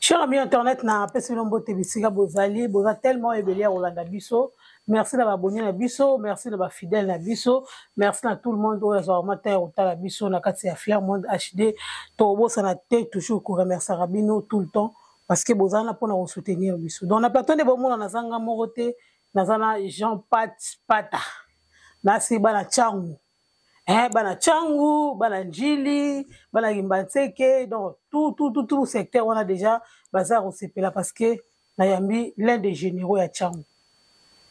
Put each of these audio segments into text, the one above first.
Cher ami internet na pesi bino mbote bisika bozali boza tellement ebele ya kolanda biso merci na babonye na biso merci na bafidèle na biso merci na tout le monde oyo azwa vraiment ntango ya kotala biso na kati ya fier monde hd tokobosana te toujours koremerciaka bino tout le temps parce que boza wana mpona kosoutenir biso donc na plateau nde bomona naza nga moko te naza na jean pat pata nasiba na changu eh, bana changu bana njili bana kimbanseke donc tout, tout, tout, tout secteur wana déjà baza kosepela parce que nayambi l'un des généraux ya changu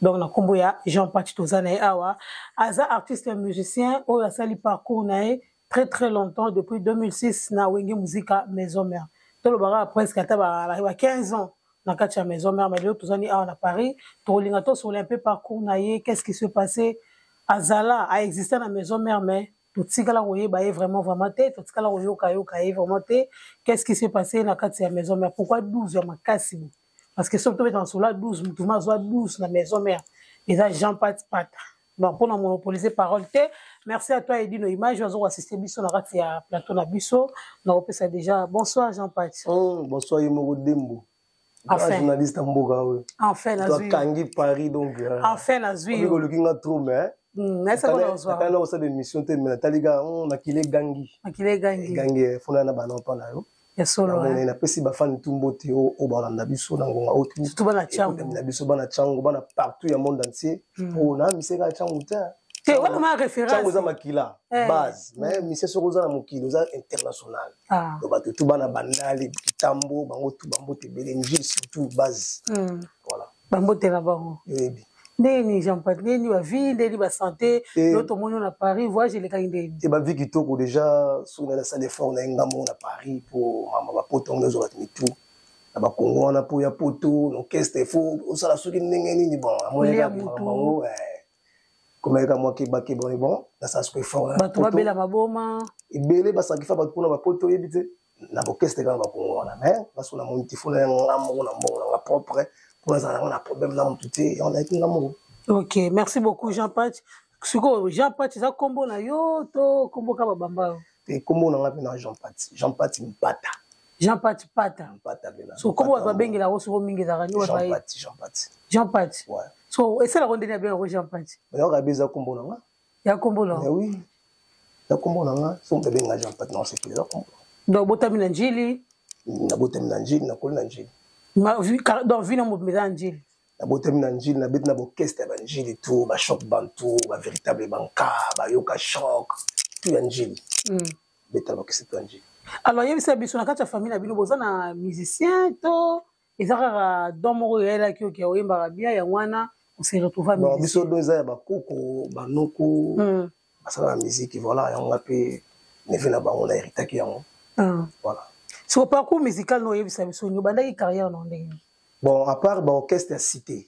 donc na nkombo ya jean pati toza na ye awa aza artiste musicien oyo asali parcours na ye très très longtemps depuis 2006 na wenge musika maison mère tolobaka presque ata ba 15 ans na kati ya maison mère mais lelo tozwani awa na paris tokolinga tosola un peu parcours na ye qu'est ce qui se passé azala aexista na maison mère mais totikala koyeba ye vraiment vraiment te totikala koyoka yoka ye vraiment te qu'est ce qui se passé na kati ya maison mère pourquoi 12 ya makasi bo parce que soki tobeta masolo ya 12 motu ma azwa 12 na maison mère eza jean pat pata donc mpo na monopolise parole te merci à toi edino image oza koassiste biso na kati ya plateau na biso nakopesa déjà bonsoir jean pati mm, bonsoir ye moko dembo enfin. journaliste ya mboka oyo enfin akangi paris donc euh, enfin nazwi oluki nga trop mais nakosala émission te mais natali kaka nakile egangi egangi fona na banampa na yo ya solo na mona eh. napesi ba fan tout mbote o o balanda biso na ngonga o tout tout bana chango na biso bana chango bana partout ya monde entier hmm. o na miseka chango te te wana ma référence chango za makila eh. base mais mise soko za na mokili oza international ah. donc bato tout bana bandali kitambo bango tout bambote bele njili surtout base hmm. voilà bambote na bango eyebi ndenge nini jean pat ndenge nini bavie ndenge nini basante Eh. yo tomoni yo na paris voyage elekaki ndenge nini te bavi kitoko deja soki ngai nasala effort na ye ngambo yango na paris mpo mama bapoto yango ezwa bato mitu na bakongo wana mpo ya poto na orchestre fo osala soki ndenge nini bon Kolia amonaka motu. bango eh, komelaka mwa kebakeba oyo bon nasalasi ko effort na bato babela maboma ebele basakifa bato mpona bapoto oyebi te na bokeste kaka bakongo wana mais baso na moni te fona yango nga moko na mbongo nanga propre mpo nazala yango na problème na motu te yango nayaki nga moko ok merci beaucoup jean patch sikoyo jean patch eza nkombo na yo to nkombo ka babamba yo te nkombo na nga mpe na jean patch jean patch mpata jean pat pata so komo bato babengela yango soko mingi ezalaka nde jean pat so esalako ndeni abenga yango jean pat oyaka be eza kombo na nga ya kombo na oui ya kombo na nga so moto abenga jean pat nao sepele eza kombo donc botami na njili nabotami na njili nakoli na njili donc vi na mobimba eza na njili nabotami na njili nabeti na bokeste ya banjili to bachoc bantu bavéritable banka bayoka choc tu ya njili mm. beta lokisi tanji alors yebisa biso na kati ya famille na bino boza na musicien to eza kaka don moko oyo yayelaki oke oyembaka bia yango wana ose retrouva biso do eza ya bakoko banuku hmm. basala na miziki voilà yango nga mpe neve na bango na heritaki yango hmm. voilà soko parcours musical no oyebisa biso nio obandaki carrière na ndenge bon à part baorchestre ya cité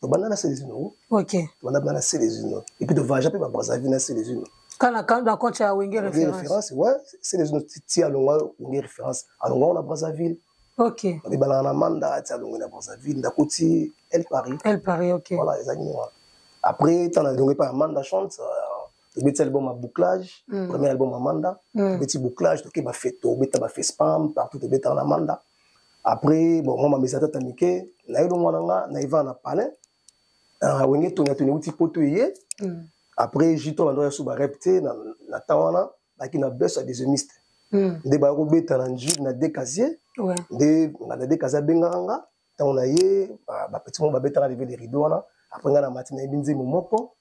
tobanda na selezino ok tobanda banda na selezino epuis tovanja mpe babrazavi na selezino kana kando akonti ya wenge référence wa selezino ti alongwa wenge référence alongwa wana brazzaville ok babebalaka na manda ti alongwe na brazzaville ndakoti el paris el paris ok voilà ezali nwa après ntango alongwe epai ya manda chante euh, tobeti album ya bouclage mm. premier album ya manda mm. tobeti bouclage tokeba feto obeta bafespam partout tobetaka na manda après bon mwa mamesa tata mike naye longwa na nga na eva na palin ah, wenge toni ya toni euti poto eye mm. après jito bando ya suba rep te na, na temps wana baki na bus ya desemiste mm. nde baya kobeta na njile na de casier ouais. nde nga na de casier abengaka nga ntango na ye bapeti moko babetaka leve de rideau wana après nga na mati na yebi nzembo moko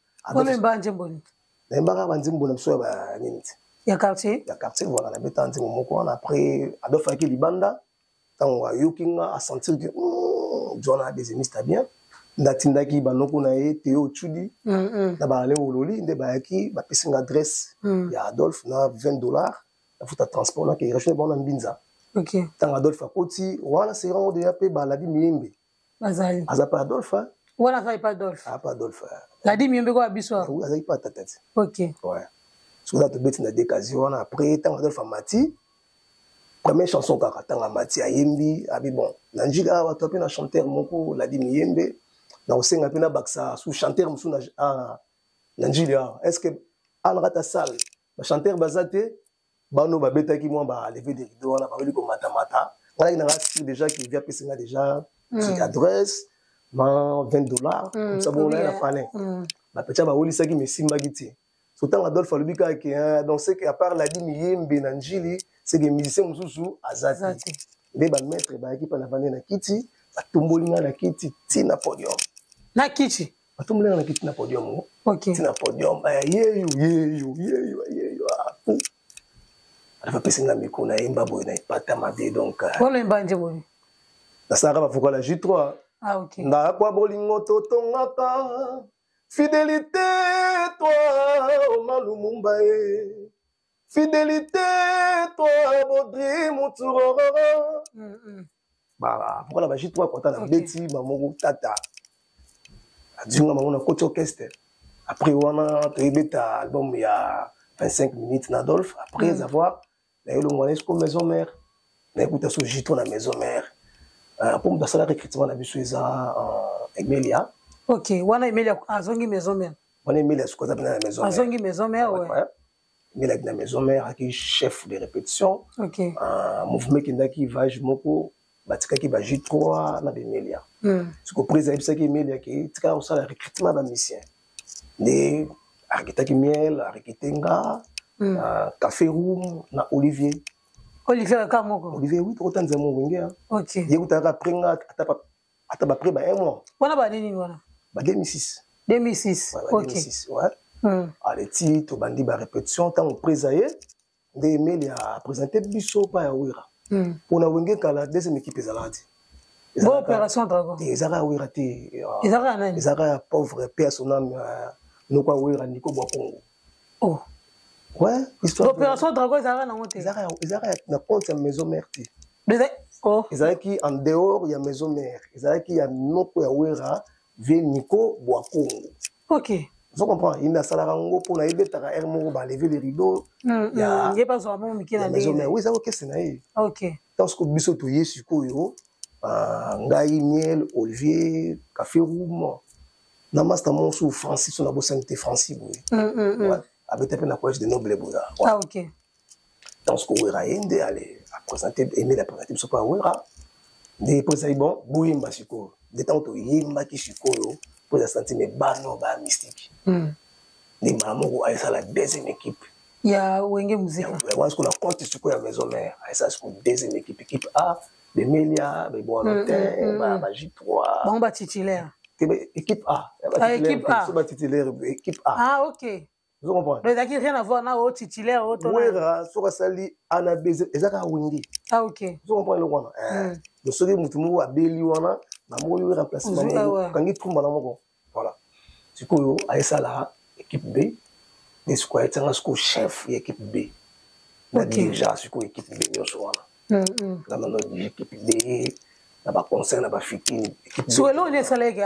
nayembaka banzembo na biso ya banini ti ya quartier ya quartier voilà nabetaka nzembo moko wana après adofaki libanda ntango ayoki nga asentir ke hmm, jwana desemista bien natindaki banoko na ye teo chudi mm, mm. na baale ololi nde bayaki bapesi nga adresse mm. ya adolphe na 20 dollars nafuta transport nake rechone bango na mbinza ntango adolphe akoti wana serango deya mpe baladi miyembe bazali aza pa adolphe hein? wana azali pa adolphe ah, pa adolphe ladi miyombe kwa biso ah, azali pa tata te ok ouais soki oza tobeti na dekasi wana après ntango adolphe amati première chanson kaka ntango amati ayembi abi bon na njika awa to mpe na chanteur moko ladi miyembe nakosenga mpe nabakisa su chanteur mosusu na ah, njili awa est ce que alakata salle bachanteur baza te bano babetaki mwa ba leve de rideau wana babeli komatamata ngalaki na ngai sire déjà kivi apesi ngai déjà petite hmm. adresse ma 20 dollars hmm, komisa bongo naye na palin hmm. bapetia bawelisaki ma esimbaki te so ntango adolphe alobi kaka ke eh, donc seke apart ladi miyembe na njili seke musicien mosusu aza te nde bamaître bayaki mpa na vande na kiti batomboli ngai na kiti ti na podium na kiti Batombolaka na kiti na podium ngo. Ok. Tina podium. Aya yeyo yeyo yeyo yeyo. Ah, pou. Alfa pesi nga micro na yemba boye na epata mabe donc. euh, Oyo oyemba nje boye. Nasalaka ba vocal ya J3. Ah ok. Nga kwa bolingo totongaka. Fidelité toi Omar Lumumba eh. Fidelité toi Bodri Mutsurora. Mm, mm. mpoka na baji trois kota na beti mamoko tata azinga bango na koti orchestre après wana toyebeta album ya 25 minutes na adolphe après mm. avoir nayelongwa na esco maison mère naekuta so jito na maison mère euh, mpo moto asala recrutement na biso eza euh, emelia ok wana emelia azongi maison mère wana emelia soki aza mpena na maison azongi maison mère ngelaki na maison mère aki chef de répétition okay. uh, mouvement ekendaki vage moko batikaki ba jus 3 na bemelia mm. siko prise ayebisaki emelia ke tika kosala recrutement na misien nde arekitaki miel arekite nga mm. na café room na olivier olivier kaka moko olivier oui tokotanisa mongonge okay. ye kutakaka après nga ata ata ba près ba un mois wana ba nini wana ba 2006 2006 ouais, ok 2006 ouais hmm. allez ti to bandi ba répétition tant au présaye nde emeli a présenté biso pa ya wira hmm. pona wenge kala deuxième équipe ezalaka ti bo opération dragon eh, ezalaka ya wira te eh, ezalaka ya nani ezalaka ya pauvre pe ya son âme euh, noko ya wira ndiko bwa kongo oh ouais histoire opération dragon ezalaka nango te ezalaka ezalaka na compte ya maison mère te oh. ezalaki en dehors ya maison mère ezalaki ya noko ya wera vie nico bwa congo ok ozo comprendre ye nde asalaka yango mpo na ye betaka heure moko baleve le rideau mm, mm. ye bazwaka moko mike na ndenge mais eza kokese na ye ntango soko biso toye sikoyo ah, ngai miel olivier kaferum na masta moko mosusu francis oyo nabosani te francis boye mm, mm, mm. abeta mpe na collège de noble boye ah, danse kowera ye nde ale apresente emile apresente biso mpo awera nde mpo ezali bon boyemba sikoyo nde ntango toyembaki sikoyo mpo eza santime bano ba mystique nde mbala moko ayesala deuxième équipe ya wenge muzika wana sikoyo na compte sikoyo ya maison mère ayesala sikoyo deuxième équipe équipe a bemelia beboano te baji trois bango batitulaire équipe a batitulaire équipe a ah ok ozo comprendre donc ezalaki rien avoir na o titulaire o to wera soki asali ana beze eza kaka wenge ah ok ozo comprendre eloko wana eh, mm. donc soki motu moko abeli wana namoni wera place kangi trumba na moko Voilà. Sikoyo ayesala équipe B nde sikoyo ayetianga sikoyo chef ya équipe B na dirigea sikoyo équipe B nyonso wana na nano dirige équipe B na baconseil na bafitini sikoyo eloko nde esalaki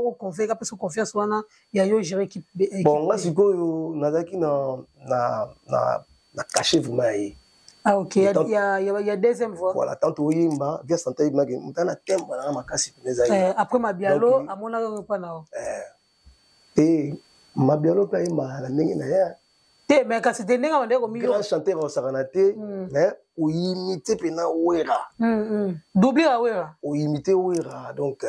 oconveka mpe so confiance wana ya yo gere équipe B bon nga sikoyo nazalaki na na na na cache vraiment ya ye Ah ok, il y, a, y, a, y a deuxième voix. Voilà, tant au Yimba, via Santa Yimba, il y a un thème, il y a un makasi. Eh, après ma bialo, à mon avis, pas là. Eh, et ma bialo, il y a un makasi, il y a un makasi. te me kasi te ndenge bande komi grand chanteur osakana te mm. mais oyimite mpena wera mm, mm. doublira wera oyimite wera donc euh,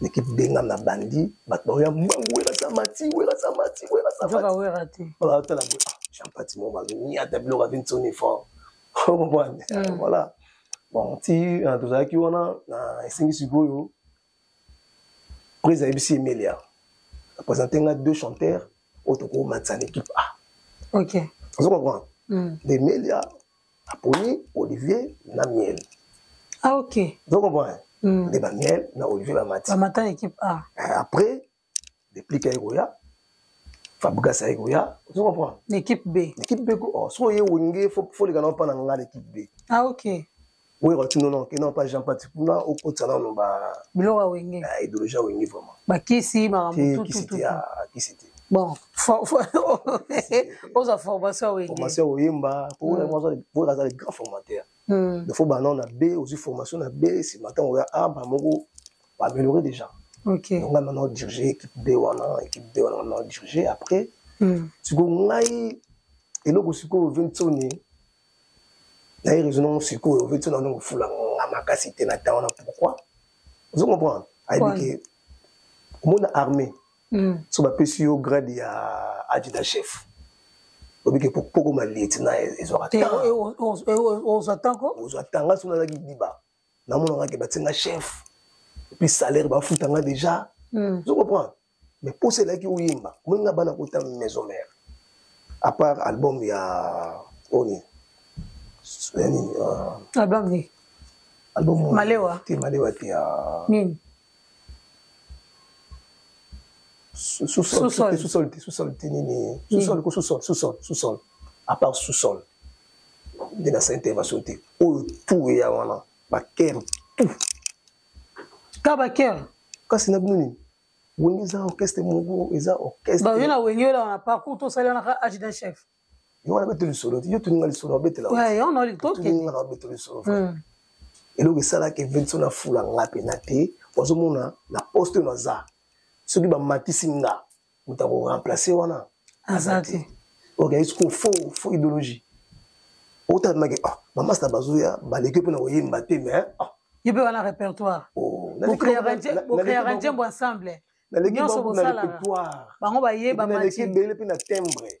Niki benga na bandi bato baoya mbangu werasa mati werasa mati werasa mati baotala boye ah, champati mo bazonyata biloko avi nsoni fort okomprendre oh, hmm. voilà bon ti euh, tozalaki wana na esengi sikoyo prise ayebisi emelia apresente nga deux chanteurs oyo tokomatisa na équipe a ah. ok ozo comprendre hmm. emelia aponi olivier na miel ah ok ozo comprendre mm. nde bamiel na olivier bamati bamata na équipe a eh, après deplique aye koya fabrigas aye koya ozo comprendre na équipe b na équipe b oh, soki oye wenge foleka na opa na nga na équipe b ah ok wera tino non ke non pas jean pati kuna okotisa nano ba biloko ya wenge ah, idéologie ya wenge vraiment bakisi makambo kisi te ah, kisi te bon ozwa formation ya wenge formation ya koyemba mpo aza le grand formateur hmm. il faut bana na b ozwi formation na b nsima ntango oya a ba moko baaméliore déjà donc nga maintenant dirige équipe b wana équipe b wana maintenant dirige après hmm. sikoyo ngai eloko sikoyo vinsone na ye raison nango sikoyo oveti na ndongo fula nga makasi te na ntango na pourquoi ozo comprendre ayebi ke omona armée hmm. so bapesi yo grade ya adjudant chef obike pokoma lieti na ezwaka ozwa ntango ozwa ntanga so nazalaki diba namonaka ke batinga chef epuis salaire bafuta nga déjà hmm. ozo comprendre mais posa elaki oyemba omoni nga bana kota maison mère à part album ya oni nini euh, album nini album malewa te malewa te ya nini sous-sol sous-sol te sous-sol te nini sous-sol ko sous-sol sous-sol sous-sol à part sous-sol nde na sa intervention te oyo tout eya wana baker tout kabaker kasi na bino nini wenge eza orchestre moko eza orchestreyo na wenge oyo na parcours tosalanaka age d'un chef yo wana bete lisolo te yo toninga lisolo abetelaoninga bete lisolo hmm. eloko esalaki vinso na fula nga mpena te wazomona na poste oyo naza soki bamatisi nga moto ako remplacer wana aza te ok ayesi ko faux faux idéologie otamaki oh, bamasta bazoya baleki mpo na koyemba te mais oh. ye mpe wana répertoire oh, bokreaka nzembo ensemble nyonso bosalaka bango bayeba ebele mpe na timbre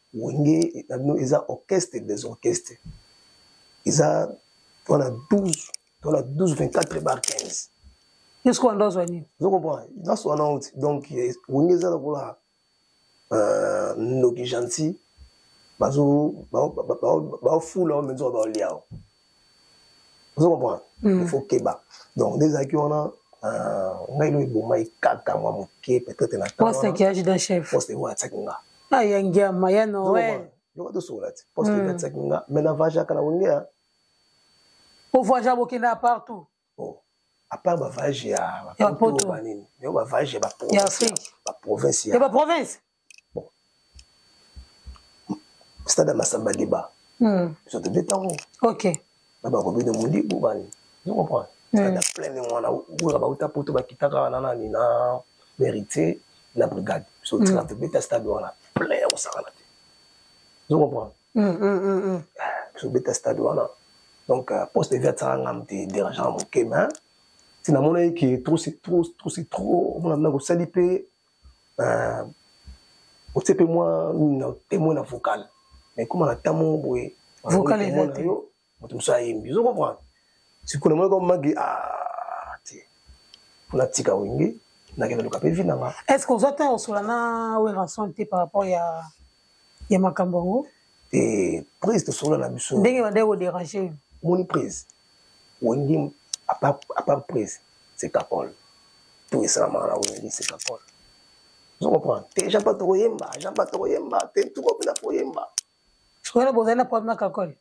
wenge na bino eza orchestre des orchestres eza wana 12 wana 12 24 bar 15 yesu wana azwa nini ozo comprendre nyonso wana oti donc wenge eza lokola euh, ndoki gentil bazofula oyo mpenza oyo baolia o ozo comprendre mm. il faut keba donc nde ezalaki wana euh, ngai no ebomai kaka mwa moke peut-être na poste ki age d'un chef poste oyo atsaki nga aya ngiama ya noel yoko tosokola te poste oyo atsaki nga mais na vajaka na wengea ovoyage bokendaka partout apart bavage ya bapoto banini yo bavage ya baprovince ya baprovince stade ya masamba liba hmm. biso tobeta yango na bakobeta molibu bani okomprendre hmm. stade ya plaine wana oyo bauta poto bakitaka wana nani na mérite na brigade biso tika hmm. tobeta stade wana plein ya kosakana te ozo comprendre mm, mm, mm, mm. zobeta stade wana donc euh, poste de vie atisaka nga mte dérangeant moke mais ntina amonaki ke trop c'est trop trop c'est trop omona mna kosali mpe euh, otie mpe mwa na témoin na vocal mais ekoma na tamo boye vocal eza te moto mosusu ayembi ozo comprendre sikoyo namoni kaka magi ah, te natika wenge nakenda luka mpe vi na nga est ce que oza ntango osola na weranson te par rapport ya ya makambo yango te prise tosola na biso ndenge bandaki koderange yo moni prise wenge apart prise c'est kakol tout esalamaka na wenge c'est kakol ozo comprendre te jean pat okoyemba jean pat okoyemba te ntukopi na koyemba wana bozali na problème na kakol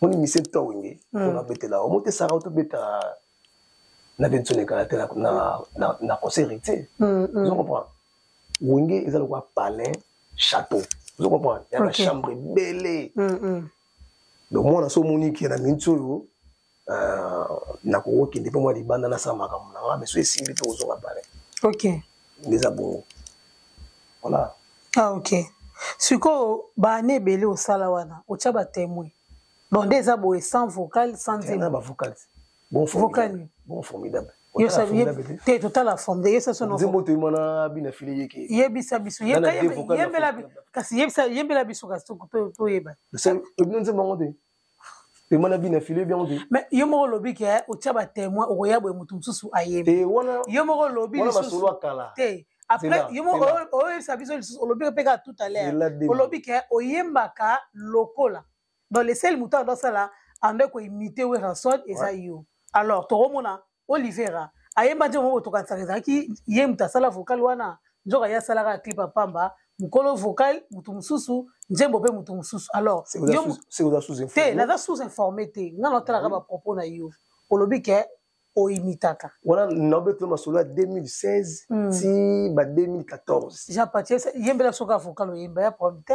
moni mise tonge hmm. tonga betela omo te sara otobeta na benso nekala te na conseil héritier hmm, hmm. ozo comprendre wenge eza lokola palais château ozo comprendre ya bachambre ebele donc mwana so omoni ke na miniti oyo nakokokende mpe mwa libanda nasala makambo na ngai meso esimbi mpe kozonga pale ok eza bongo voilà ah ok sikoyo baane ebele osala wana otya batemoin donc nde eza boye sans vocal sans nzembo bavocal bon vocal bon formidable te totala forme de yesa sononzembo toyemana bina file yeke yebisa biso yembela kasi yembela biso kasi toyeba bino nzembo yango te pema na bino afile byango te mais yo moko olobi ke eh, otya batemoin okoya boye moto mosusu ayembi eh, yo moko olobi te après yo moko oyebisa biso lisusu olobi mpe kaka tout à l'heure olobi ke eh, oyembaka lokola donc lesel moto adosala ande koimite werrason eza yo alors tokomona olivera ayemba nzembo moko tokanisaka ezalaki ye moto asala vocal wana nzoka ye asalaka ya clip ya pamba mokolo vocal moto mosusu nzembo mpe moto mosusu alors te naza sous informé te nga natalaka ah bapropos na yo olobi ke oimitaka wana naobetela masolo ya 2016 hmm. ti ba 2014 jean patie yembela soki avocal oyemba ya problème te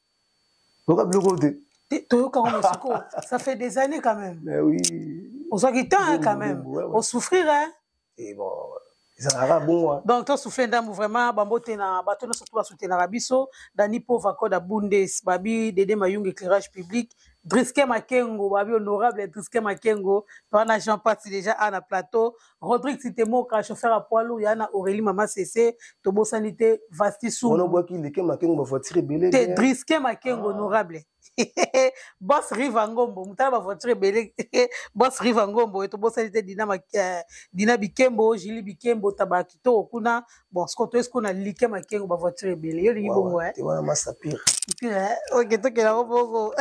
oyoka biloko te toyoka ngo sikoyo ça fait des années quand même mais oui ozwaki temps hein, quand même osouffrir hein et bon ezalaka bongo donc tosouffle ndambu vraiment bambote na bato nyonso to basutenaka biso dani pova code abundes babi dede mayungu éclairage public driske makengo babi honorable driske makengo towana jean pati déjà a na plateau Rodrigue Titemoka, chauffeur à poids lourd, Yana Aurélie Mama Sese, Tobo Sanité, Vasti Sou. On boit qui leke makengo ba voiture belé. Te drisque makengo ah. honorable. Boss Riva Ngombo, mutala ba voiture belé. Boss Riva Ngombo, Tobo Sanité Dina euh, Dina Bikembo, Jili Bikembo, Tabakito Okuna. Bon, ce qu'on est-ce qu'on a leke makengo ba voiture belé. Yo lingi bongo hein. Tu vois ma sapir. Hein. OK, toi qui la robo.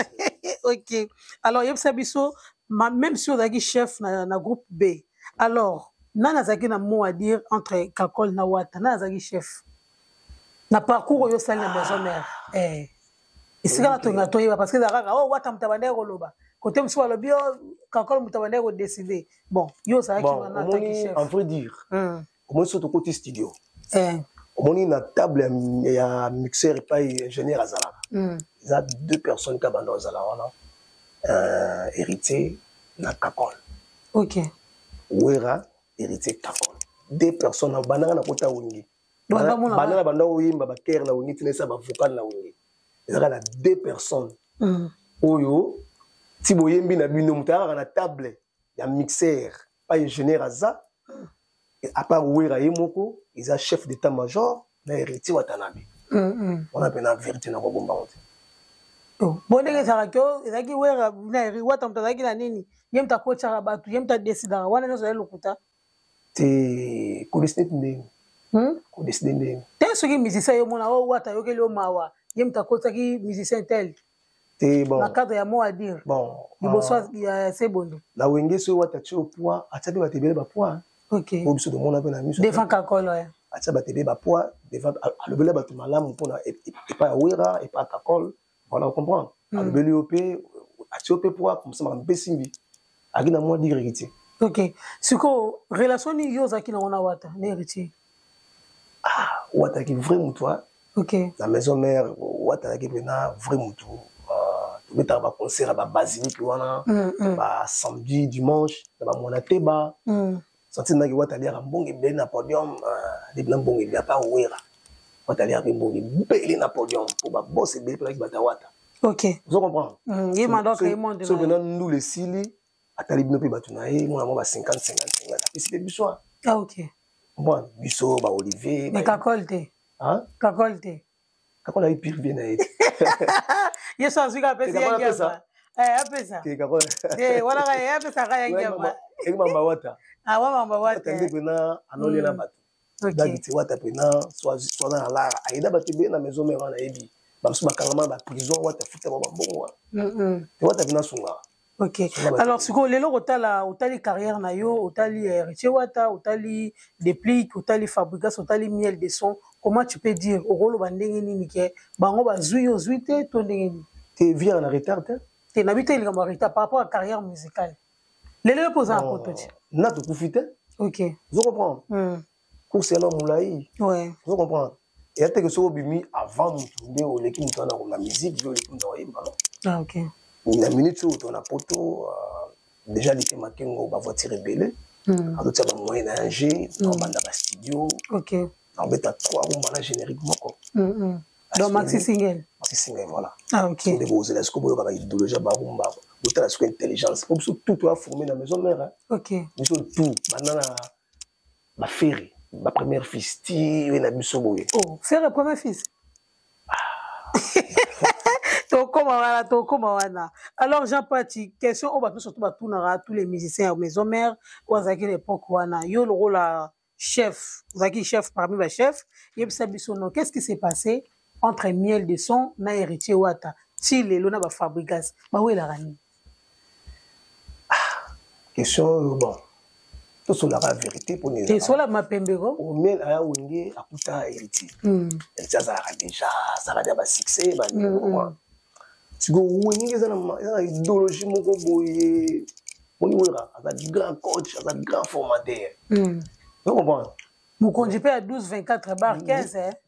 OK. Alors, yebisa biso Ma, même si ozalaki chef na, na groupe b alors nani azalaki na mot à dire entre kakol na wata nani azalaki chef na parcours oyo osali na maison mère eh. esika na tonga toyeba parce que ezala kaka o oh, wata moto abandaki koloba kote mosusu balobi o oh, kakol moto abandaki kodeside bon yo ozalaki wana en vrai dire hmm. omoni so tokoti studio eh. omoni na table ya, ya mixeur epai ingénieur azalaka mm. eza deux personnes kaka banda ozala wana euh, héritier na kakol okay. wera héritier kakol deux personnes na bandaka na kota wenge banda na banda oyimba bakere na wenge tina esa bavocal na wenge ezalaka na deux personnes mm. oyo ti boyembi na bino moto ayakaka na table ya mixer pa ingénieur aza à part wera ye moko eza chef d'état major na héritier watanabe wana mpe na vérité na kobomba ngo te bo ndenge ezalaka ke ezalaki wera na wata moto azalaki na nini ye moto akotyaka bato ye moto adesidaka wana nyonso ezali lokuta te kodeside ndenge kodeside ndenge te soki musicien yo mona o oh, wata ayokeli yo mawa ye moto akotaki musicien tel te bon. na cadre ya mot à dire bon, liboso uh, ya sebondo na wenge soki wata tie o poids atia mpe bato ebele bapoids okay. oyo biso tomona mpe na miso devant kakolo ya atia bato ebele bapoids devant alobela bato malamu mpona e, e, epai ya wera epai ya kakol voilà ocomprendre hmm. alobeli yo mpe atie yo mpe poids komosama mpe simbi Aki na mwa dire héritier. Ok. Siko relation ni yo zaki na ona wata na héritier. Ah, wata ki vrai mutu hein. Ok. La maison mère wata ki na vrai mutu. tobetaka baconcert ya babasilique wana basamedi dimanche na bamwana teba Sorti na ki wata liaka mbongo ebele na podium euh, depuis na mbongo ebele apart wera wata liaka mpe mbongo ebele na podium mpo ba boss ebele mpelaki bata wata ok ozo comprendre mm, ye madoka ye monde so pena ndula esili atali bino mpe bato na ye mwana mwa ba 50 50 50 apesi mpe biso ah ok comprendre biso ba olivier mais kakol te kakol te kakola ayi pire vie na ye yesu azwi ka apesi ye ngiaba eh, apesa eh, wana ka ye apesaka ya ngiaba eki mamba wata awa ah, mamba wata nde pena anolela hmm. bato dabiti wata pena swana na lara ayeda bato ebele na maison mère wana ayebi bamosusu bakangama na baprison wata afutama bambongo wana te wata pena asungaka ok alors sikoyo lelo kotala otali carrière na yo otali eh, riche wata otali deplic otali fabrigas otali miel de son comment tu peux dire okoloba ndenge nini ke bango bazwi yo ozwi te to ndenge nini te via na retard te te nabi te likambo ya retard par rapport à carrière musicale lelo yo mpe oza na poto te na tokufi te ok ozo comprendre hmm. course yana molai ozo comprendre eya teke soki obimi avant motu nde oleki motu wana na musique nde oleki motu oyemba ah, na minute oyo tona poto euh, déjà lite makengo bavoiture ebele hmm. azotia bamoyen na ya je hmm. naobanda bastudio naobeta trois rumba na générique moko hmm, hmm. donc maxi single maxi single voilà ah, okay. nde bozela sikoyo boyoka baidéologie ya barumba botala sikoyo intelligence po biso tout toya forme na maison mère biso tout banda na ba ferre ba première fils ti ye na biso boye oh ferre première fils tokoma wana tokoma wana alors jean pati question oyo bato nyonso to batunaka tous les musiciens ya maison mère oyo azalaki na époque wana yo lokola chef ozalaki chef parmi bachef yebisa biso no qu'est ce qui s'est passé entre miel de son na héritier wata ti lelo na bafabrigas bawelaka nini ah, question oyo bon tosolaka vérité mpo nesola mapembeko omiel aya wenge akuta héritier hmm. héritier azalaka déjà azalaka deja basuccès banimokoma hmm, hmm. sikoyo wenge eza na idéologie moko boye moni wera aza grand coach aza grand formateur ocomprendre mokonzi mpe ya 12 24 bar 15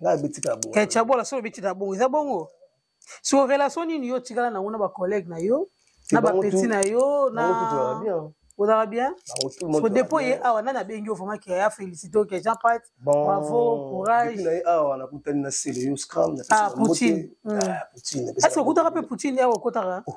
nga abeti ka bongo kecha bola so obeti na bongo eza bongo so relation nini yo tikala na ngona ba collègue na yo na ba petit na yo na ozala bien so dépôt ye awa nani abengi yo vraiment ke ya félicité ok jean pat bravo courage na ye awa nakutani na sele yo scram ah poutine hmm. ah, est ce okutaka mpe poutine awa okotaka oh.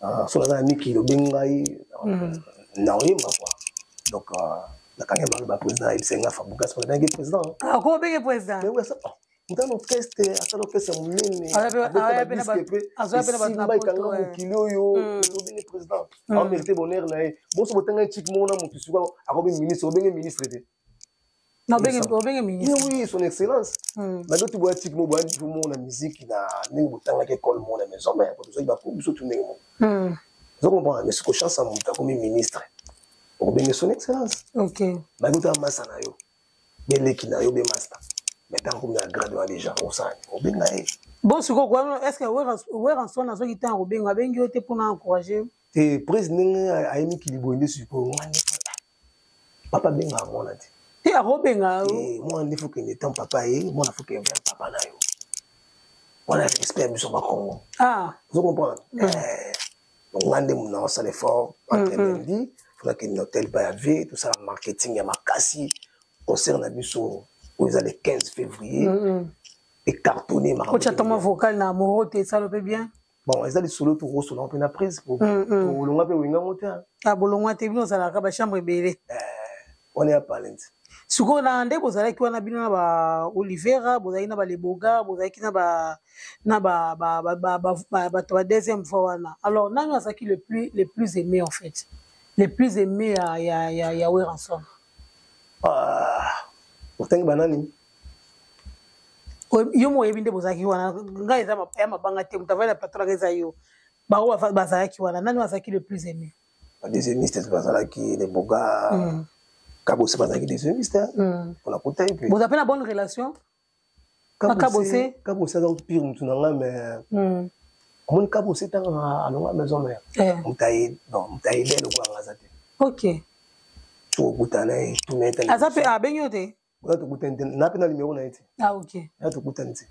Ah, soki naza na mikili obengi ngai hmm. nakoyemba kua donc euh, nakangi maloba président ayebisa nga fabrigas nakangi président ako obenge président nga na orchestre asala orchestre ya monene asimba ekanga mokili oyo obenge président amerite bonheur na ye bonso botanga chik moko na motu suka akomi ministre obenge ministre te obenge ministre oui son excellence hmm. bato tu boya tiki mo boya ndifo moko na miziki na ndenge botangaki ekole moko na maison mare po tozwaki bakomi biso tu ndenge moko hmm. ozo comprendre mais soko chance ya moto akomi ministre okobenge son excellence bato otala masa na yo beleki na yo bemasta mais ntango komi na grade wana déjà osani obenga ye bon sikoyo est ce que weranson azoki ntango akobenga abengi yo te mpona encourage te prise ndenge ayemi kiliboye nde sikoyo papa bengaka mwana te te akobenga eh, mwana nde fokende ntango papa ye mwana fokende ya papa na yo wana respect ya biso bakongo ah. ozo comprendre mm. eh, nga nde mona osala effort entre mm, mm. lundi fonakende na hotel bayave tosala marketing ya makasi concert na biso oyo eza le 15 février ecartonne makambo vocal na moro te esala mpe bien bon eza lisolo tokosolanga mpe na prise po mm, mm. olonga mpe olinga ngo te ah, bolongwa te bino ozalaka bachambre ebele eh, wana ya palente sikoyo na nde bozalaki wana bino na ba olivera bozalaki na baleboga bozalaki na bato ba deuxième fois wana alors nani azalaki le plus, le plus aimé en fait le plus aimé ya, ya, ya, ya weranson ah, otangi banani yo moko oyebi nde bozalaki wana ngai eza ya mabanga te moto avandi na plateau nanga eza yo bango bazalaki wana nani azalaki le plus aimé badeuxiémiste bazalaki le boga hmm. kabose bazalaki deuxiémiste hmm. mpona kota ye mpe boza mpe na bonne relation kabose kabose azalaki pire motu na ngai mais hmm. omoni kabose ntango alonga maison mère eh. mutaye non mutaye lelo kwanga aza te ok tokokutana ye aza mpe abengi yo te wana tokutani te na mpe na nimero na ye te ah, wana tokutani te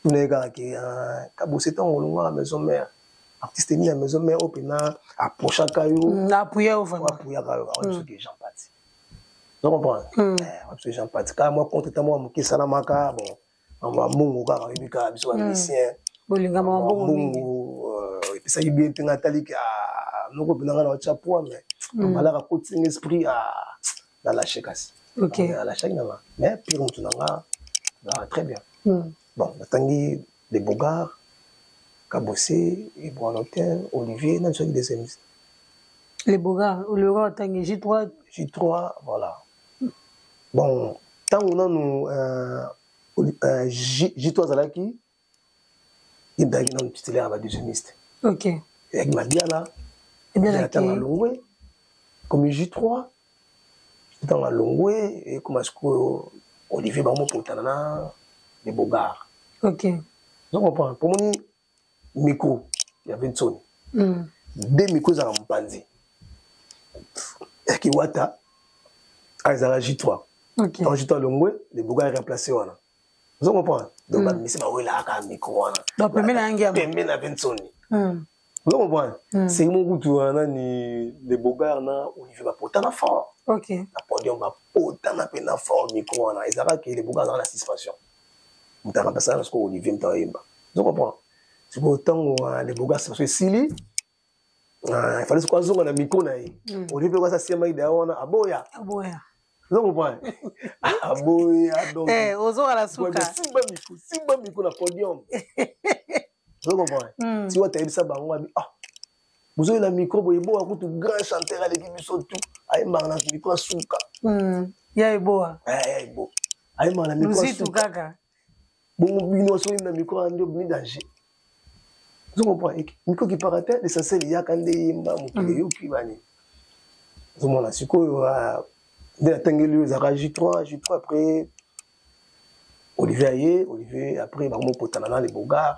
tuna ye kaka ke ah, kabose ntango olongwaka maison mare artiste emi na maison mare oyo mpena approchaka yo mm, apuyaka yo aoyebisoki jean pati ozo comprendre wabiso jean pati kaka mwa contre ta mwa moke esalamaka bon makambo ya mbongo kaka oyebi kaka biso ba musicien hmm. bolinga makambo ya mbongo euh, epesaki bien mpe ngai taliki ah, noko mpenza ngai na watya poa mai hmm. malaka kotinga esprit ah, na lâche kasi na lâchaki nanga mais pire motu na nga ah, très bien hmm. bon natangi de bogard kabose ebronotin olivier na bisoki deuxième le bogard le bogard atangi j3 j3 voilà bon ntango nanu euh, euh, jito azalaki ebelaki nanu titulaire ya badeuxiémiste ok eyaki mabiala ntango alongwe komi j3 ntango alongwe ekoma sikoyo olivier bango mopotana na le bogard ok ozo comprendre mpo moni micro ya vinsoni mm. de micro ezala mopanzi ya kiwata azala g3 okay. donc g3 longwe liboka ayaka place wana ozo comprendre donc mm. bamisi bawelaka micro wana bapembe na yange pembe na vinsoni mm. ozo comprendre mm. sengi moko kutu wana nani le bogar na olivier bapotana fort okay. na podium bapotana mpe na fort micro wana ezalaka ke le bogar azalaka na suspension mutaka basala na sikoyo olivier mutaka yemba ozo comprendre sikoyo ntango ah, le bogas baso esili ah, efali sikoyo azonga na miko na ye hmm. olivier mpe kwasa siama idea wana aboya aboya ozo comprendre aboya donc eh, ozonga na suka simba miko simba miko na podium ozo comprendre hmm. ti watayebisa bango abi ah bozongi na micro boye eboa kutu grand chanteur aleki biso tu ayembaka na micro asuka hmm. ya eboa eh, ya eboa ayembaka na micro asuka bongo bino soki na micro ande obimi danger ozo comprendre eke micro kipaka te l'essentiel eyaka nde yemba mokili hmm. eyoki bani ozomona sikoyo ah, nde natangeli oyo ezalaka j3 j3 après olivier aye olivier après bakomokotana na le bogard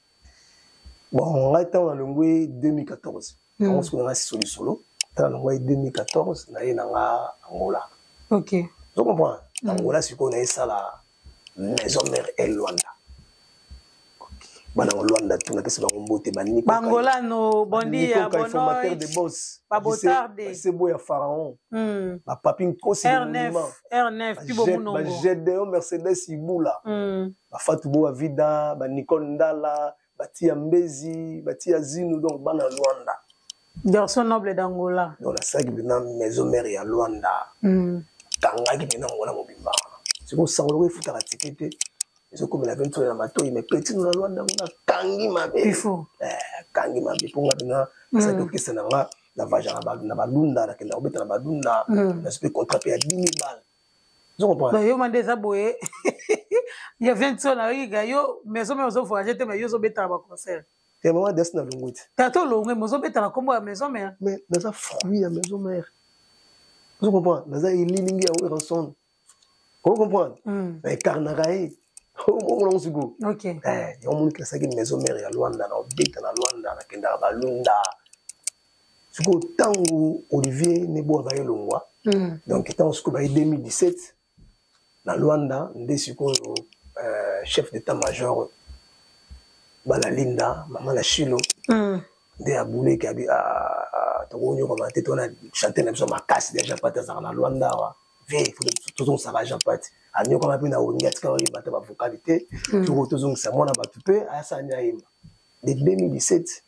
bon ngai ntango nalongwe 2014 yango sikoyo ngai sisoli solo ntango nalongwa ye 2014 naye na nga angola ok ozo comprendre mm. angola sikoyo naye esala maison mère e luanda bana luanda tu napesi bango mbote banibangolano bondia bonoiformateur de bos babotardese boya pharaon mm. bapapi nkosi bagedeon mercedes ibula mm. bafatu boa vida ba nicole ndala batia mbezi batia zino donc bana luanda garçon noble d'angola donc nasalaki mpena maison mare ya luanda mm. tangaki mpena angola mobimba sikoyo sango loko efutaka tike te ezokomela mpe ntona na matoi mai peti no na luanda ngo nakangi mabe akangi eh, mabe mpo nga mpena asaki mm. okesa na nga na vaja na balunda nakenda kobeta na balunda mm. nazo mpe contrat mpe ya 10 000 bale yo mande eza boye ya vinson ayoka yo maison mai ozovoyage te mai yo ozobetaka baconcert ya mama des na longo te tata olongwe mai ozobetaka nkombo ya maison mare mais naza fruit ya maison mare ozo comprendre naza elilingi ya werson ozo comprendre hmm. na ekarnaka ye omonango sikoyo yango moni klasaki maison mare ya lwanda na obeta na lwanda nakendaka balunda sikoyo ntango olivier nebo abaye longwa mm. donc ntango sikoyo baye 2017 na luanda nde sikoyo uh, chef d'état major balalinda mama na shilo mm. nde abuleki abi ah, ah, ah, tokonyokama te tona chante na biso makasi deja pati azalaka na luanda awa ve tozongisaka jean pati anyokama mpe na olingi atika oyemba te bavokali te sikoyo tozongisa mwana bato mpe asani ayemba de 2017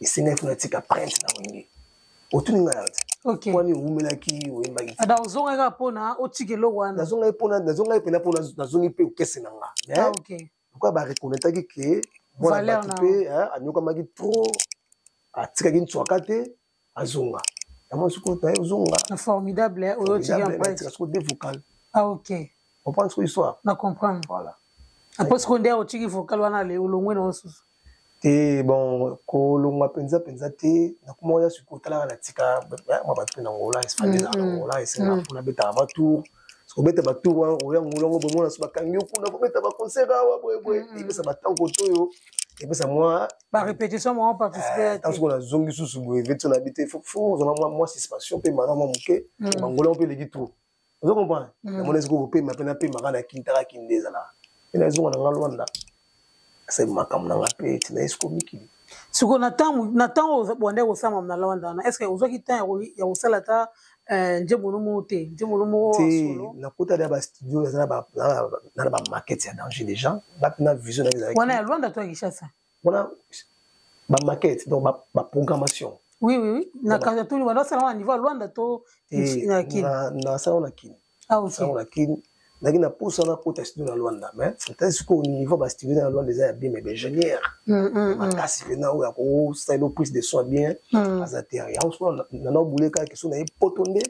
esengaki natika printe na wenge otuni ngai na okay. wani owumelaki oyembaki ada ozongaki kaka mpona otika eloko wana nazongaki mpona nazongaki mpena mpo nazongi mpe okese na nga ah, okay. lokola barekonaitaki ke mwana bato mpe anyokamaki trop atikaki nswaka te azonga yango soki oyo taye ozonga na formidable eh, oyo otika après soki de vocal ah ok comprendre soki histoire na comprendre voilà après soki nde otiki vocal wana le olongwe na osusu te bon kolongwa mpenza mpenza te nakoma oya sikoyo otalaka na tika eh, mwa bato mpe na ngola espagne ezalaka na ngola esengaka mpo nabetaka batour kobeta batour wana oya ngola yango bomona so bakangi yo kuna kobeta baconcert awa boyeboye epesa batango oyo epesa mwa ba répétition mwa participer tanso kona zongi susu boye veto na bite faut faut ozana mwa mwa suspension pe mana mwa muke mm. bangola mpe leki trop ozo comprendre mm. namona ezoko kopema pe na pema kana kintaka kinde ezala pe na ezonga na nga lwanda asali makambo na nga pe tina esiko mikili siko na ntango na ntango obanda kosala mamu na lwanda wana est ce que ozwaki temps ya kosala ata Eh, nzembo no moko te nzembo no moko solo na kota ya ba studio eza na ba maquette ya danger déjà ba na vision na ezalaki wana ya Luanda to ya Kinshasa wana ba maquette donc ba, ba programmation oui oui oui na kaza tuni wana sala na niveau ya Luanda to na kin na sala na kin Ah, ntango na kin naki na mposa nakota studio na lwanda mais ntali sikoyo niveau bastudio na lwanda eza ya bien mais baingénieur mm, mm, mm. makasi mpena oyo akosalela prise de soin bien aza te yango soko nanaobule kaka keso na ye poto nde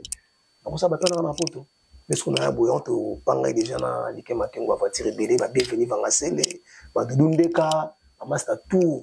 nakosala batanaka na poto mais soko naya boye yango topangai déjà na like makengo ya voiture ebele babienveni vangasele badudu ndeka amasta tour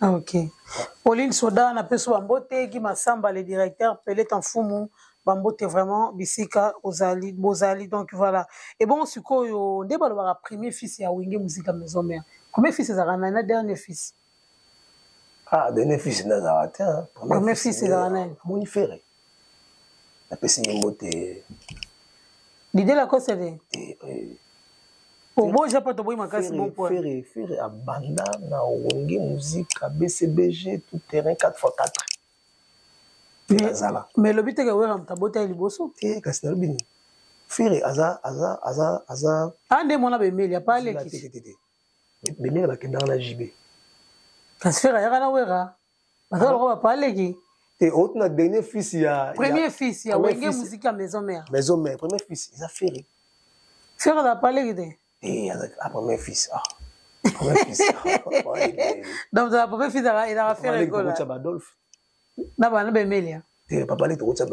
Ah, ok. Pauline Soda, na peso bambote, Guy Massamba, le directeur, Pellet en Fumu, bambote vraiment, bisika, ozali, bozali, donc voilà. Et bon, ce qu'on nde balobaka premier fils ya Wenge musique à maison mère. Premier fils ezalaka na na dernier fils. Ah, dernier fils na zara te. Hein. Premier, premier fils ezalaka na. Moni ferre. napesi nge mbote dide la coste te eh, eh. oboja mpo toboyi makasi bokwafere fere abanda na wenge muzika bcbg tout terrain 4 x 4 azala mais elobi teke wera moto abota ye liboso te eh, kasi nalobi nini fere aza aza aza aza a ah, nde mwana bemeli apa alekite bemeli bakendaka na jb kasi fere ayaka na wera baza lokola papa leki te auti na dernier fils ya premier fils ya wenge muziki ya maison mère maison mère premier fils eza fere fere aza papa leki te te aza ah, premier fils ah premier fils donc la premier fils ezaka fere gola badolphe na bana bemelia te papa leki okotya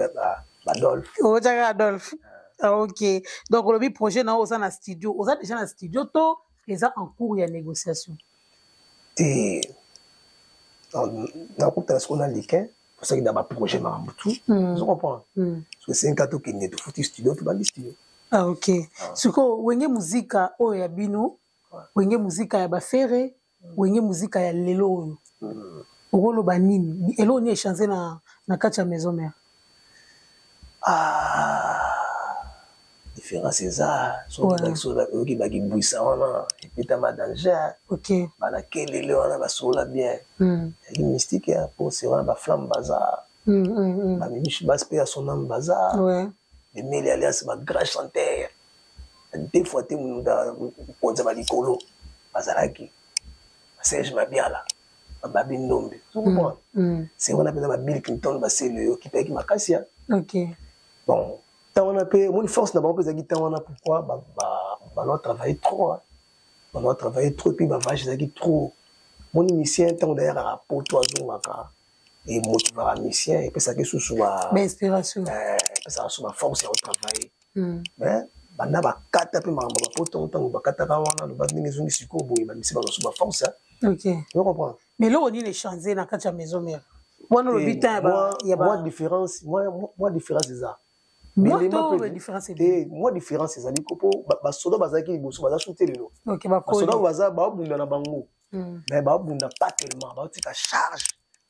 badolfe okotyaka adolphe ah, ok donc olobi projet na yo oza na studio oza déjà na studio to eza en cours ya négociation te nakutana soko na likin tosaki na baprojet makambo tu hmm. ozo comprendre hmm. soki esenka tokende tofuti studio tobandi studio ah, ok ah. sikoyo wenge muzika oyo ya bino wenge muzika ya bafere wenge muzika ya lelo oyo hmm. okoloba nini eloko nini echange na, na kati ya maison mère ah, différence eza soki bakibwisa wana epetama danger bana kelele wana basola bien hmm. yaki mystique ya pose wana baflamme baza hmm, bamimishi basi mpe ya sonam baza emeli alias bagrage santere deux fois te mokonzi ya balikolo bazalaki serge mabiala bababi ndombe mm, mm. se wana mpenza ba bill clinton basele oyo kitaki makasi ya bon ntango wana mpe omoni force na bango mpe ezalaki ntango wana pourquoi baloa travaille trop baloa travaille trop epuis bavage ezalaki trop moni misien ntango dayakaka poto azongaka emotivaka misien epesaka esusu bainspiration eh, epesaka susu baforce ya kotravaille hmm. mais banda bakata mpe makambo bapota ntango bakataka wana alobaki ndenge ezongi sikoyo boye bamisi balosu baforce comprendre mais eloko nini echange na kati ya maison mère wana olobi eh, temps ya ba différence mwa différence eza mwa différence ezali ko mpo basoda bazalaki liboso baza su te lelo basoda baza babunda na bango mais babunda pas tellement baotika charge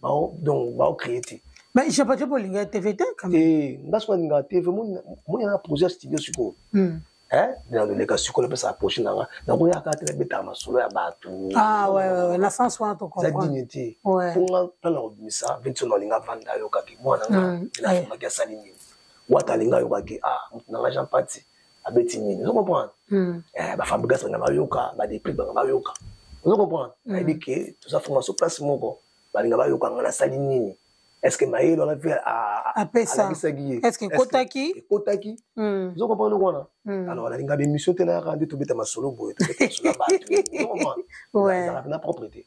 Bao, donc, bao créer te. Mais je pas pour linga TV te quand même. Eh, ndas pas linga TV, mon mon na projet studio siko. Hmm. Hein? Dans le cas siko le ça approcher nanga. Na ko ya ka te beta ma solo ya batu. Ah ouais ouais ouais, na sens wana to comprendre. Ça dignité. Ouais. Pour nga plan na obimisa, vinto na linga vanda yo ka ki mwana nga. Na ma ka salini. Wata linga yo ka ki ah, na nga Jean Pati. abeti nini ozo comprendre hmm. eh, bafabrigas banga bayoka badeplik banga bayoka ozo comprendre hmm. ayebi ke toza formation place moko balinga bayoka nga nasali nini estce mayele wana mpe alakisaki ye ekotaki ekotaki hmm. ozo comprendre eloko wana alors nalinga bemission te nayaka nde tobeta masolo boye tobeta masolo ya bato na propre te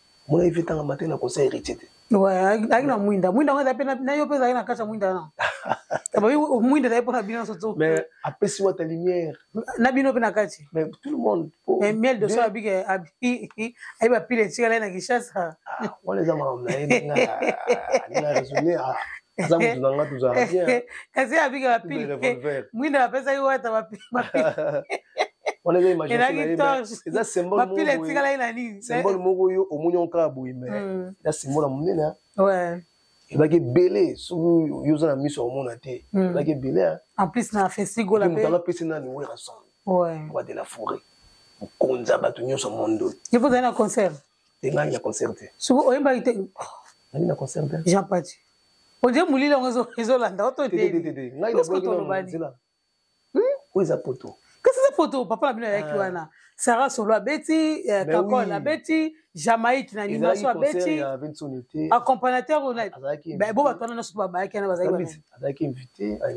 mona ive tanga matin na conseil héritier te ayaki na mwinda mwinda yango eza mpe na yo mpe ezalaki na kati ya mwinda wana babi mwinda ezali mpo na bino nyonso to mais apesi wata lumière na bino mpe na kati mais tout le monde mais miel de soir abiki ayi bapile etikala ye na kinshasa ah, wana eza makambo na ye ndenge raisonne aza mutu na nga tozala bien kasi abika bapili mwina bapesaki wata bapili wana eza imaginationeza symbole moko yo omoni yango kaka boye me hmm. eza symbole ya monene ebaki ebele soki yo oza na miso ya komona te hmm. ebaki ebele moto anga pesi nani werasonwa de la forêt mokonzi ya bato nyonso ya mondo te ngai na concert te soki oyembaki te ngai na concert te jean pati odie molili yango ezolanda oto teolobaniozela hmm? oyo eza poto kasi eza poto papa na bino ayaki ah. wana sarah solo abeti eh, kakol abeti jamaïque na animation abeti accompagnateur oyo bo bato wana nyonso babayaki wana bazalaki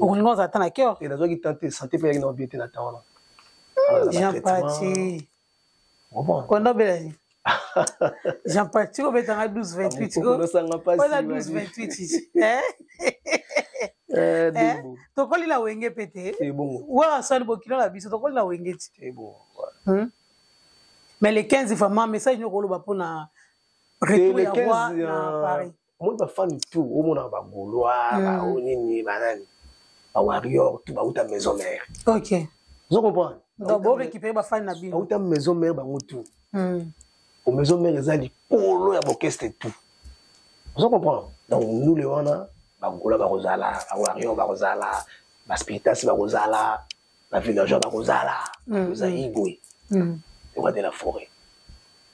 okolinga ozala ata na cœur nazwaki tante sante mpe yaki na obie te na temps wana hmm, jean pati kondo obela nini jean patrick obetanga 12 28oza 12 28 tokoli na wenge mpe te wa sani bokilo na biso tokoli na wenge ti hmm? mais le 15 vraiment message nokoloba mpona retour ya roi na paris omoni bafani tout omonaka bagolois mm. bao oh, nini banani bawarior tout bauta maison mare ok ozo comprendre donc borekipere bafani na bino bauta maison mare bango tout mm. o maison mare eza likolo ya bokeste tout ozo comprendre donc ndule wana bagola bakozala bawarior bakozala baspiritas bakozala na villageois bakozala mm, oza mm. igwe mm. yoka de la forêt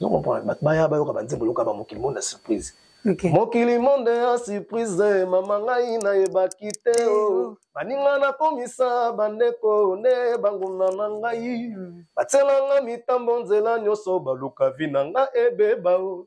ozocomprendre bato baya bayoka banzembo yoka bamokili mona surprise Okay. mokili monde ya surprise mama ngai nayebaki te o oh. oh. baninga nakomisa bandeko nde banguna na ngai mm. batielanga mitambo nzela nyonso baluka vi na nga ebeba o oh.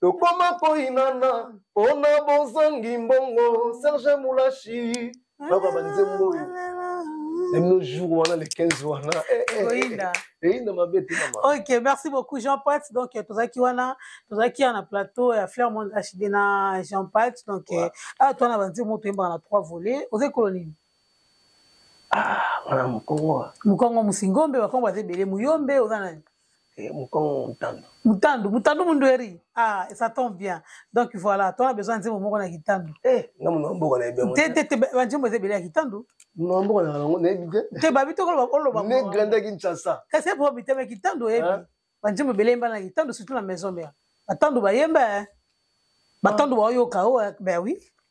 tokoma koyinana mpona bozangi mbongo serge mulashi baba banzembo oyo le jour wana le 15 wana eh, eh, eh, eyinda eyinda mabe te mama ok merci beaucoup jean pat donc tozalaki wana tozalaki ya na plateau ya flair monde hd na jean pat donc awa to wana banzembo oyo toyembaka na trois volet ozali kolo nini ah, wana mokongo mokongo mosingombe bakongo baza ebele muyombe oza nani Eh, mukongo mutandu mutandu mutandu mundueri ah ça tombe bien donc voilà toi on a besoin nzembo moko na kitandu eh nga muna mboka na ebia te te te ba nzembo ze bele ya kitandu muna mboka na ngo na ebite te ba bito ko ba olo ba ne grande kinshasa ka se po bite me kitandu e eh? ba nzembo bele mba na kitandu surtout na maison mère batandu ba yemba eh? batandu ba oyoka o oh, eh? ben oui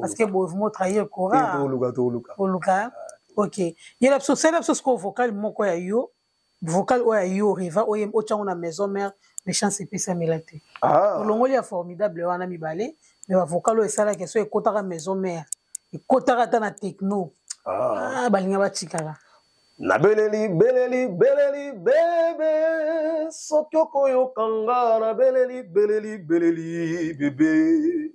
parce que boye vraiment trahir kora toluka toluka toluka ok yela biso sala biso sikoyo vocal moko ya yo vocal oyo ya yo riva oyo otyango na maison mère de chance epesamela te ah. olongoli ya formidable wana mibale me bavocal oyo esalaki eso ekotaka maison mère ekotaka ata na techno ah. ah, balinga batikala nabeleli beleli beleli bebe soki okoyokanga nabeleli beleli beleli bebe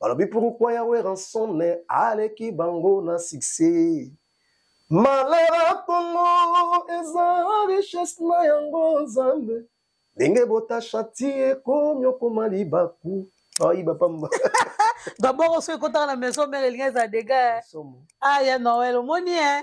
balobi pourquoi ya werrason aleki bango na succès malera kongo eza richesse na yango nzambe ndenge botashati ekomi okoma libaku ayiba pamba dabord oso ekotaka na maison mare elingi eza dega eh. aya ah, noel omoni e eh?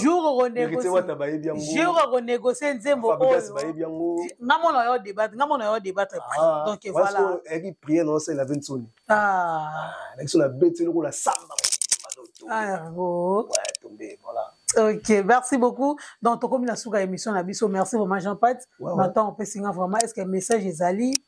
jour okonegocie nzembo nga mona yo debatre nga mona yo debatre ah, donc voilaaeki eh, priere na osala nave nsoni nakiso na beti lokola samba yango ok merci beaucoup donc tokomi na suka ya émission na biso merci vraiment jean pat na ntango opesi nga vraiment est ce que message ezali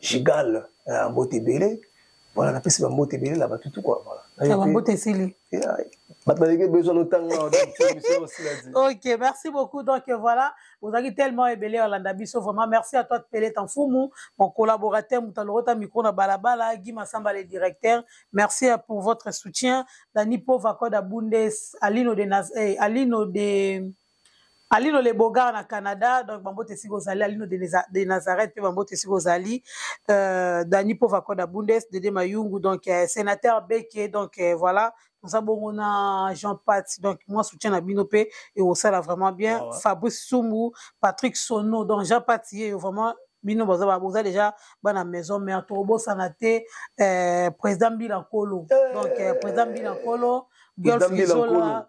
Gigal, euh, mbote ebele. Voilà, napesi ba mbote ebele la batutu quoi. Voilà. Na ba mbote esili. Bato baleki besoin notanga ok merci beaucoup donc voilà ozalaki tellement ebele olanda biso vraiment merci à toi pele tanfumu mon collaborateur moto alokota micro na balabala guy masamba le directeur merci pour votre soutien dani pova code abundes alino de, eh, alino de alino le bogar na canada donc bambote esika ozali alino de nazareth mpe bambote esika ozali euh, dani pova koda bundes dede mayungu donc euh, sénateur beke donc euh, voilà toza bongo na jean pat donc mwa soutien na bino mpe ekosala vraiment bien ah, ouais. fabrice sumbu patrick sono donc jean pat ye yo vraiment bino boza boza déjà bana maison mère tokobosana te euh, président mbila nkolo donc euh, président mbila nkolo girls isola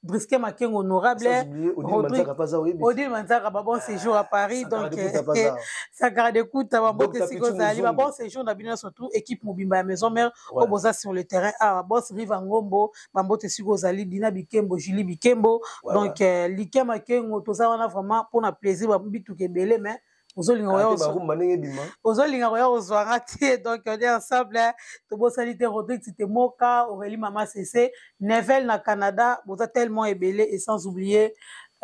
Brisquet Makengo honorable Odile Manzaka ba bon séjour à Paris donc Sakara de Kuta ba bon siko zali ba bon séjour na bino surtout équipe mobimba ya maison mère au boza sur le terrain ah boss Riva Ngombo ba mbote siko zali Dina Bikembo Julie Bikembo donc Likia Makengo toza wana vraiment pour na plaisir ba bitu ke belé mais ozolinga koya barumba ndenge ebima ozolinga koya kozwa nga te donc on est ensemble hein. tobosani te rodrigue titemoka aurélie mama sese nevel na canada boza tellement ebele et sans oublier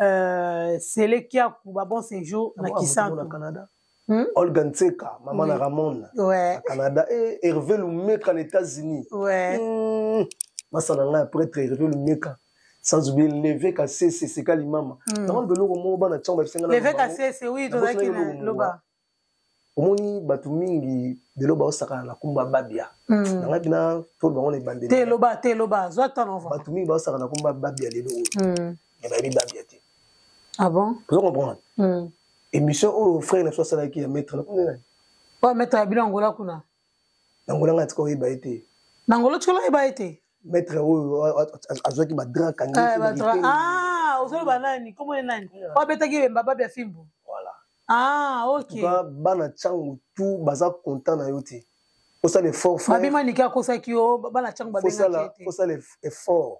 euh, sele kiaku babon séjour ah na kisantu Hmm? olga nseka mama oui. na ramon ouais. na canada e eh, herve lumeka na états-unis ouais. hmm. masala ngai ya pretre herve lumeka sans oublier levé kasese seka limama hmm. nango loba eloko moko bana ntango babisa ngai levé kasese oui tozalaki na loba omoni bato mingi lelo baosakana na kumba babia hmm. nanga bina tolo bango na ebandeli te loba te loba zwa ntango bato mingi baosakana na kumba babia lelo oyo hmm. me bayebi babia te ah bon ozo comprendre émission oyo frère na biso asalaki ya maître na kuna nani oyo maître ya bino angola kuna nangola ngai atika oyeba ye te nangola otika oyeba ye te maître oyo azwaki badra kangiozoloba nani komo ye nani oyo abetaki ebemba babi ya fimbo ah ok bana ntango tu baza content na yo te osala effort frère babima nike akosaki yo bana ntango babengaki te osala effort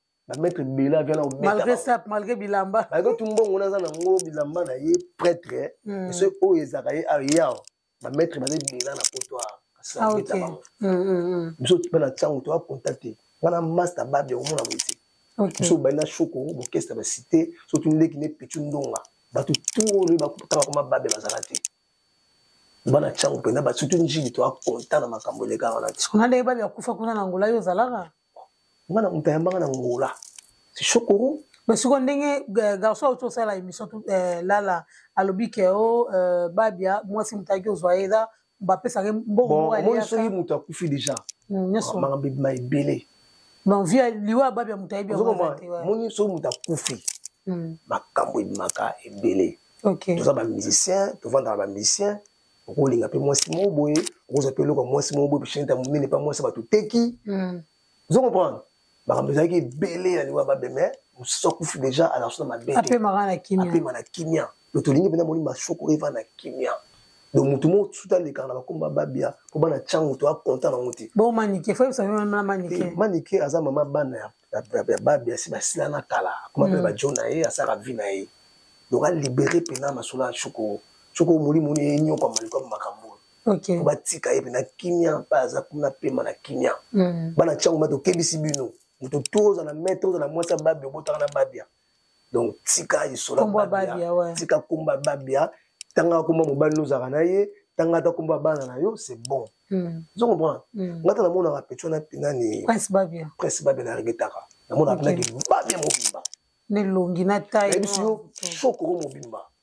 ba maître bela avia na obeta malgré ça malgré bilamba malgré tout mbongo naza na ngo bilamba na ye prêtre mm. ce oyo ezaka ye ayo yao ba maître ba bela na poto a ah, obeta bango mm, mm, biso tipa na ntango to akontakte ngai na master babi okomona boye te biso obali na shoko bokesta ba cité so tundeki ne pichu ndonga bato tu oyo bakutaka koma babe bazala te bana ntango mpenza basutu njili to akonta na makambo elekaka na te nadeyebabi akufa kuna na ngola yo ozalaka nga na moto ayambanga na ngola sokoro mais sikoyo ndenge euh, garçon auti osala émission euh, lala alobi ke o oh, euh, babia mwasi moto ayaki ozwa ye eza bapesaka mbongoomoni soki moto akufi déjà hmm, makambo ebima ebele donc vie liwa babia moto ayebi moni soki moto akufi hmm. makambo ebimaka ebele toza bamusicien tovandaka bamusicien okolinga mpe mwasi moko boye okozwa mpe eloko ya mwasi moko boye peshente ya monene mpe mwasi bato teki hmm. ozo comprendre makambo ezalaki ebele na liwa babe me mosusu akufi deja alarso na mabeapema na kimia to tolingi mpenza moni masoko eva na kimia donc motu moko sutu alekaka na bakomba babia mpo bana ntango to akonta nango te manike aza mama bana ya babasi basilana kala akoma mpe bajo na ye asaka vi na ye donc alibere mpena masolo ya soko soko molimoni ye nyoko amaliko ya makambo okay. po batika ye mpena kimia mpe aza kuna pema na kimia mm. bana ntango ma tokebisi bino moto to ozala maitre ozala mwasi ya babia obotaka na babia donc tika lisolo Kombo ya ya Babia, babia ouais. tika kombo ya babia tanga kombo ya mobali nozalaka na ye tanga ata kombo ya bana na yo c'est bon Mm, ozo comprendre mm. nga ata namonaka peti wana nani prince babia prince babia na regretaka namonaka Okay. naki babia mobimba na elongi na tai nayebi biso yo sokoko mobimba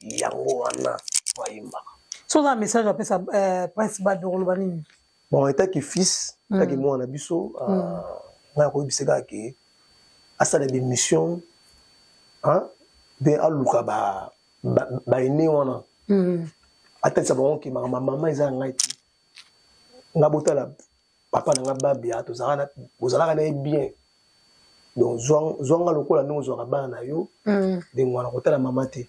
yango wana bayembaka so oza na message apesa eh, prince bad okoloba nini bon etaki fils etaki mm. mwana na biso ah, mm. ngai akoyebisa kaka ke asala bemission mpe aluka baene wana mm. atalisa bango ke makambo mama eza ya ngai te nga botala papa na nga babia tozalaka na bozalaka na ye bien donc zwanga lokola ndenge ozwaka bana na yo mm. ndenge wana kotala mama te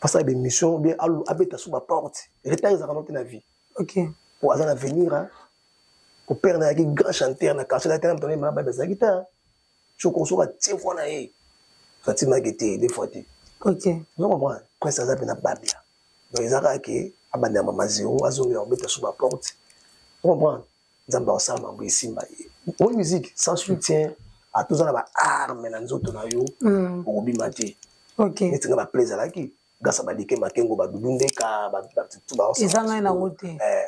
asala bemission bien abeta so baporte retard ezalaka no te na vie po aza na venir po père na yaki grand chanteur na quartier na tena mtone mama babi azalaki ta Tshoko soki atie voix na ye atimaki te des fois te okay no comprendre prince aza mpe na babia donc eza kaka ke abanda mama zero azongela kobeta sous baporte o comprendre nzambe akosala mambo esimba ye o musique sans soutien ata oza na baarme na nzoto na yo mm. okobima te neti nga baple ezalaki gasa balike makengo badudu ndeka eza ngai nango te eh.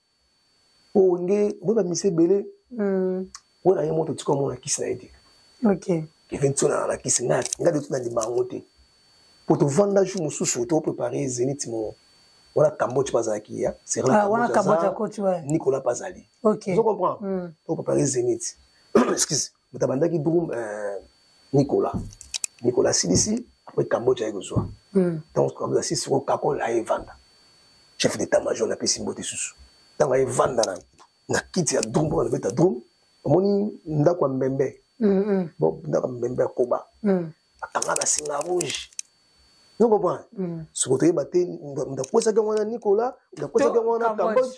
oyo nde oyo bamisa ebele oyo na ye moto tika omona kisi na ye te evention na na kisi nga nga detu nandima yango te mpo tovanda jour mosusu toprépare zenit mo wana cambodge bazalaki ya sernicolas azali ozo comprendre toprépare zenit excuse moto abandaki drum euh, nicolas nicolas asilisi apres cambodge aye kozwa hmm. donc cambodge asilisi ko kakol aye evanda chef d'état major napesi mbote susu ntango aye evanda na, na kiti ya drum mpo anabeta drum omoni ndako ya mbembe hmm, hmm. bo ndako ya mbembe ya koba akanga na singa rouge noko bwana soki toyeba te moto akwesaki yango wana nicolas moto akwesaki yango wana cambodge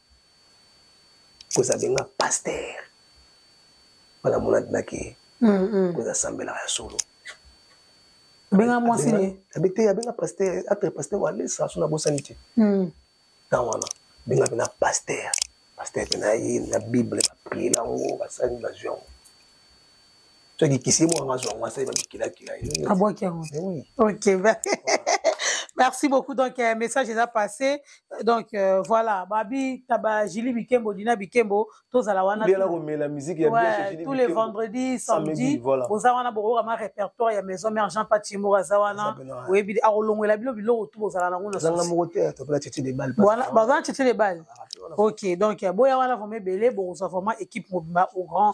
koza benga pasteur wana mona dinaki ye mm, mm. koza sambelaka ya solo benga mwasi ne abe te abenga pasteur atre pasteur walesa so nabosani te mm. ntango wana benga pena pasteur pasteur pena ye na bible bapriela yango basali bazwi yango to kikisi mwana azwa yango asali bamikilakila abwaki yango ok merci beaucoup donc euh, message eza passé donc euh, voilà babi taba jili bikembo dina bikembo tozala wana komela musique ya ouais, tous les vendredis samedi voilà. boza wana bokoyoka ma répertoire ya maison mère jean patimo aza wana oyebi akolongwela bino biloko tu bozala nango nazanga moko te topela tete de bal baza na tete de bal ok donc euh, boya wana vraiment ebele bokozwa vraiment équipe mobimba au grand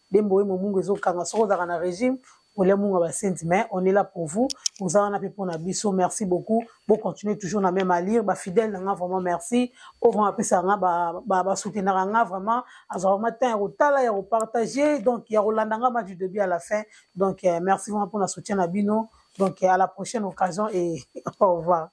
dembo oyo momungu ezokanga soki ozalaka na régime olia mungu ya basenzi mais on est là pour vous oza wana mpe mpo na biso merci beaucoup bocontinue toujours na meme alire bafidèle na nga vraiment merci oyo vraiment apesaka nga basoutenaka nga vraiment azwa vraiment temps ya kotala ya kopartage donc ya kolanda nga ma du début à la fin donc euh, merci vraiment mpo na soutien na bino donc à la prochaine occasion et au revoir